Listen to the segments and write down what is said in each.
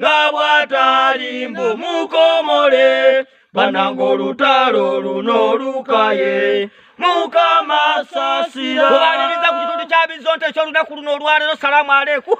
nga bw'atali mbu mukomole bananga olutalo luno olukaye mukama sasira obaliriza ku kitundu kya bizonto ekyolunaku luno olwalero salaamu aleku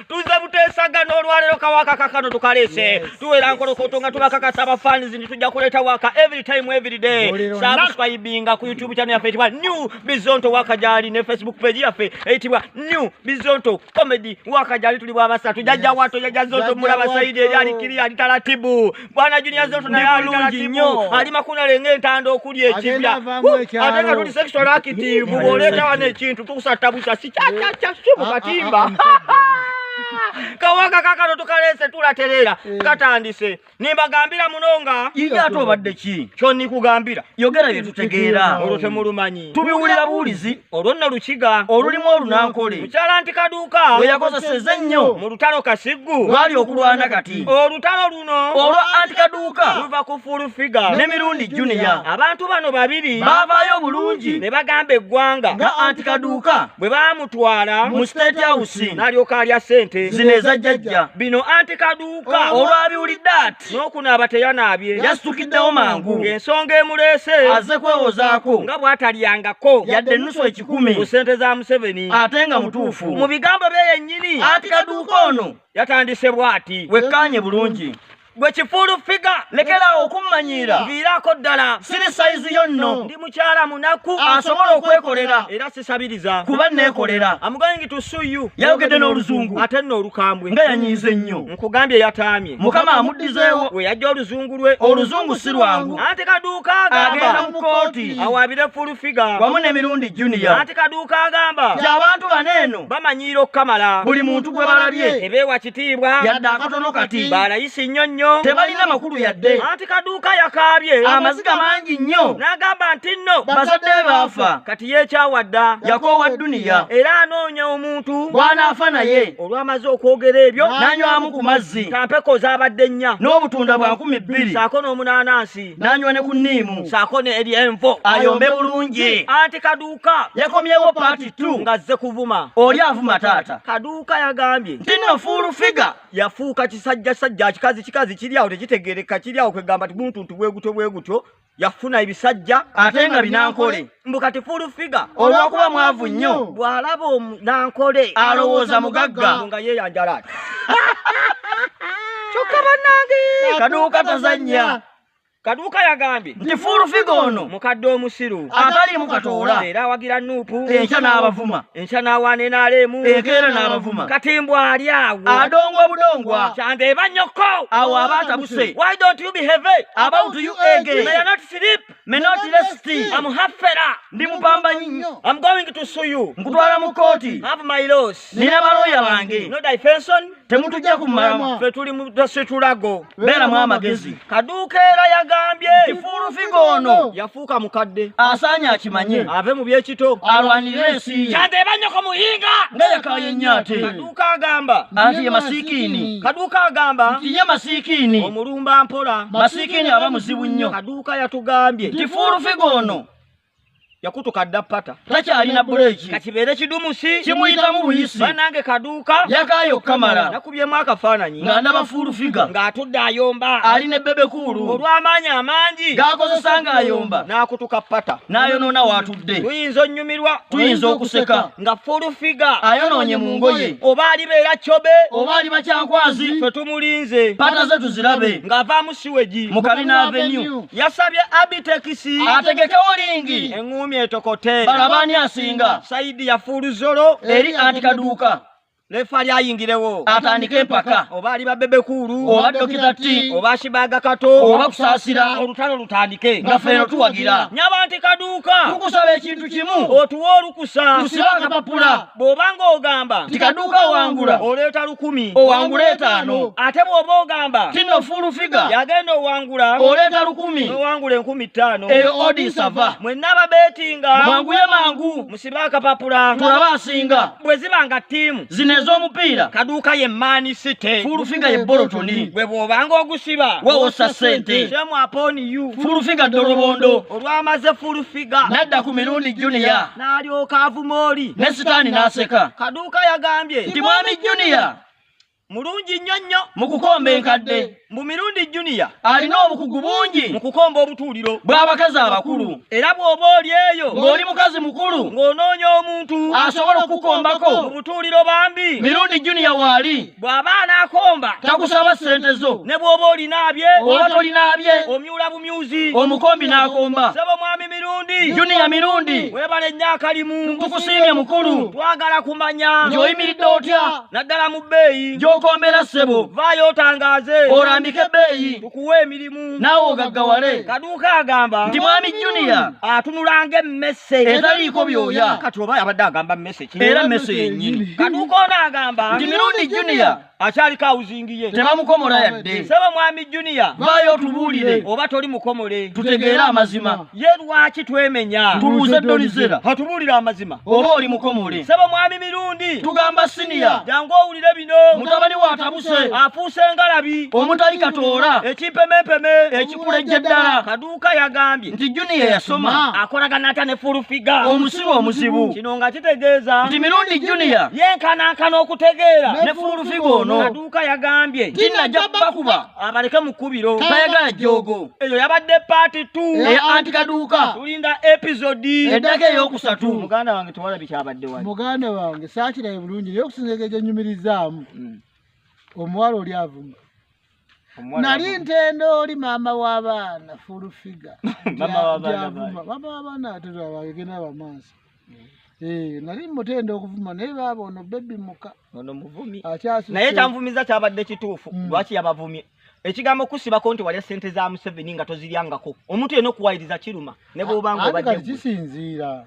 tuze buteesaga n'olwalero kawaka kakano tukalese tuwera nkolokoto nga tubakakasa abafaanizi nti tujja kuleeta waka every time every day sabuswayibinga ku youtube channel yaffe etibwa new bizonto wakajali ne facebook page yafe eyitibwa new bizonto comedy wakajali tuli bwabasatu jajja wato jajja zonto mulaba saidi eri alikiri ali taratibu bwana junia zonto naye ali taratibu ali makuna lenge entanda okuli ekibya ate nga tuli sexual active bwoleta wana ekintu tukusatabusa sikyakyacha si mu katimba ah, ah, ah, kawaka kakano tukalese tulaterera eh. katandise nimbagambira muno nga iye ate obadde ki kyo nikugambira yogera bye tutegeera olwo temulumanyi tubiwulira buwulizi olwo nno lukiga olulimu olunankole mukyala nti kaduuka we yakozeseza ennyo mu lutalo kasiggu lwali okulwana kati olutalo luno olwa anti kaduuka luva ku fulu figa ne mirundi juniya abantu bano babiri baavaayo obulungi ne bagamba eggwanga nga anti kaduuka bwe baamutwala mu state house n'alyoka alya ssente zino eza jjajja bino anti kaduuka olwabiwulidde ati n'okunaaba teyanaabye yasitukiddewo mangu ng'ensonga emuleese aze kwewozaako nga bw'atalyangako yadde ennusu ekikumi ku ssente za museveni ate nga mutuufu mu bigambo bye yennyini ati kaduuka ono yatandise bw'ati wekkaanye bulungi gwe kifuulu figa lekeraawo okummanyiira viiraako ddala siri sayizi yo nno ndi mukyala munaku asobola okwekolera era sabiriza kuba nekolera I'm going to sue you yayogedde n'oluzungu ate nno olukambwe nga yanyiize nnyo nkugambye yataamye mukama amuddizeewo we yajja oluzungu lwe oluzungu si lwangu ante kaduuka agenda mu kooti awaabire full figa wamu n'emirundi junior ante kaduuka agamba gy'abantu bano eno bamanyiira okukamala buli muntu gwe balabye ebeewa kitiibwa yadde akatono kati balayisi nnyo nnyo tebalina makulu yadde anti kaduuka yakaabye amaziga mangi nnyo n'agamba nti nno bazadde baafa kati yekyawadda yakoowa dduniya era anoonya omuntu bw'anaafa naye olwamaze okwogera ebyo n'anywamu ku mazzi kampeko zaabadde nnya n'obutunda bwa nkumi bbiri saako n'omunaanansi n'anywa ne ku nniimu saako ne eri envo ayombe bulungi anti kaduuka Kaduuka yakomyewo paati tu ng'azze kuvuma oli avuma taata. Kaduuka yagambye nti no fuulu figa yafuuka kisajja sajja kikazi kikazi kiri awo tekitegeereka kiri awo kwegamba tiguntuntu bwegutyo bwegutyo yafuna ebisajja ate nga binankole mbu kati fuulu figa olwokuba mwavu nnyo bw'alaba omunankole alowooza mugagga nga yeeyanjala ati kyokka bannange kaduuka tazannya Kaduka yagambye nti Full Figure ono mukadde omusiru ataliimu katoola era awagira Nuupu enkya n'abavuma enkya n'awaana enaaleemu enkeera n'abavuma kati mbu ali awo adongo obudongwa kyanda eba nnyoko awo aba atabuse why don't you behave about you again may I not sleep may not rest I'm hafera ndi mupambanyi I'm going to sue you nkutwala mu kkooti have my loss nina balooya bange no difenson temutujja ku mama fe tuli mutasitulago beera mu amagezi kaduuka era yagambye kifuulu figa ono yafuuka mukadde asaanya akimanye ave mu byekito alwanire ensi kyante ebanyoko muyinga nga yakaye nnyo ate kaduuka agamba anti ye masiikiini kaduuka agamba nti ye masiikiini omulumba mpola masiikiini aba muzibu nnyo kaduuka yatugambye kifuulu figa ono yakutuka dda pata takyalina buleeki kakibeere kidumusi kimuyitamu buyisi banange kaduuka yakaayo okukamala nakubyemu akafaananyi nga ndaba fuulu figa ng'atudde ayomba ali ne bebekuulu olw'amaanyi amangi gaakozesa ng'ayomba n'akutuka pata n'ayonoona waatudde tuyinza onnyumirwa tuyinza okuseka nga fuulu figa ayonoonye mu ngoye oba alibeera cobe oba ali bakyankwazi fe tumulinze pata ze tuzirabe ng'avaamu mu Kabina Avenue yasabye abitekisi ategekewo lingi eng'uumi etokote balabani asinga saidi yafuulu zolo eri anti kaduuka lefa lyayingirewo atandika empaka oba ali babebekuulu oba dokita ti oba shibaga kato oba kusaasira olutalo lutandike nga feeno tuwagira nyaba nti kaduuka tukusaba ekintu kimu otuwa olukusa tusiba akapapula bw'obanga ogamba nti kaduuka owangula oleeta lukumi owangula etaano ate bw'oba ogamba tino fuulu figa yagenda owangula oleeta lukumi owangula enkumi ttaano eyo odisava mwenna ababeetinga mwanguye mangu musibe akapapula tulaba asinga bwe ziba nga ttiimu zino ez'omupiira kaduuka ye maani site fuulu figa ye bolotoni bwe bw'obanga ogusiba wewosa ssente shemu aponi u fuulu figa ddolobondo olwamaze fuulu n'adda ku mirundi juniya n'alyoka avuma oli ne sitaani n'aseka kaduuka yagambye nti mwami juniya mulungi nnyo nnyo mu kukomba enkadde mu mirundi juniya alina obukugu bungi mu kukomba obutuuliro bw'abakazi abakulu era bw'oba oli eyo ng'oli mukazi mukulu ng'onoonya omuntu asobola okukukombako mu butuuliro bambi mirundi juniya waali bw'aba anaakomba takusaba ssente zo ne bw'oba olinaabye oba tolinaabye omyula bumyuzi omukombi n'akomba sebo mwami mirundi juniya mirundi webale nnyo akalimu tukusiimye mukulu twagala kumanya ng'oyimiridde otya naddala mu bbeeyi gy'okombera ssebo vaayo otangaaze olambike ebbeeyi tukuwe emirimu naawe ogaggawale kaduuka agamba nti mwami juniya atunulanga emmese etaliiko byoya kati oba abadde agamba era mese yennyini kaduuka ono agamba nti mirundi junior akyaliko awuzingi ye tebamukomola yadde saba mwami junior vayo tubuulire oba toli mukomole tutegeere amazima ye lwaki twemenya tubuuze dolizera hatubuulire amazima oba oli mukomole saba mwami mirundi tugamba siniya jangu owulire bino mutabani watabuse afuuse ngalabi omutali katoola ekimpemempeme kulejja ddala kaduuka yagambye nti juniya yasoma akolagana atya ne fulufiga omusibe omuzibu kino nga kitegeeza nti mirundi juniya yenkanankana okutegeera ne fulufiga ono kaduuka yagambye tinajja bakuba abaleke mu kkubiro tayagala jjoogo eyo yabadde paati t eya anti kaduuka tulinda episodi eddako ey'okusatu muganda wange tewala bikyabadde wa muganda wange saakiraye bulungi naye okusinzeka egyenyumirizaamu hmm. omuwala oli avuma Omuwala nali avuga. ntenda oli maama w'abaana fulufiga Maama w'abaana bayo. maama w'abaana atera bagenda bamaaso Eh, nali mutenda okuvuma naye baaba ono bebi muka ono muvumi akyasuse naye kyanvumiza kyabadde kituufu Mm. lwaki yabavumye ekigambo kusibako nti walya sente za museveni nga toziryangako omuntu yena okuwayiriza kiruma ne bwobanga Ate obadde kati gwe. kisinziira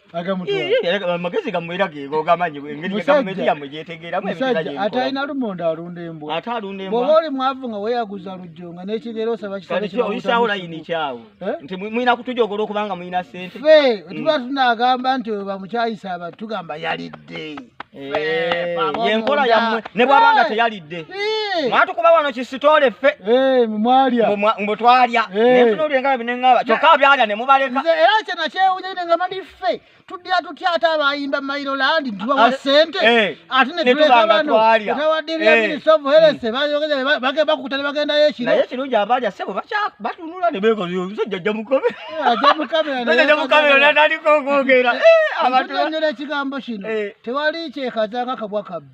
amagezi gamwe era geego gamanyi engeri gavumenti yamwe gyetegeeramu ebizanyo ate alina lumonde alunda embwa ate alunda embwa bw'oba oli mwavu nga weeyaguza lujjo nga n'ekigero osaba kisaoyisaawo layini kyawo eh? nti mulina kutujogora okubanga mulina ssente fe tuba tunagamba nti oyo bamukyayisa abantu tugamba yalidde Eh, yenkola yamwe ne bwaba nga teyalidde mwatukuba wano kisitole ffe eh, mwe twalya eh. nenfuna olyengaa binengaba kyokka byalya ne mubaleka era kyena kyewunyene nga mali ffe tudya tutya ate abayimba mairo landi tubawa ah, sente ate netulekabanobagenda bakuta ne bagendayo ekiro naye ekirungi abalya sebo batunula ne bekoza omusajja jja mukobe ajamukameraaalikonyola ekigambo kino tewali kyekaza nga kabwa kabbi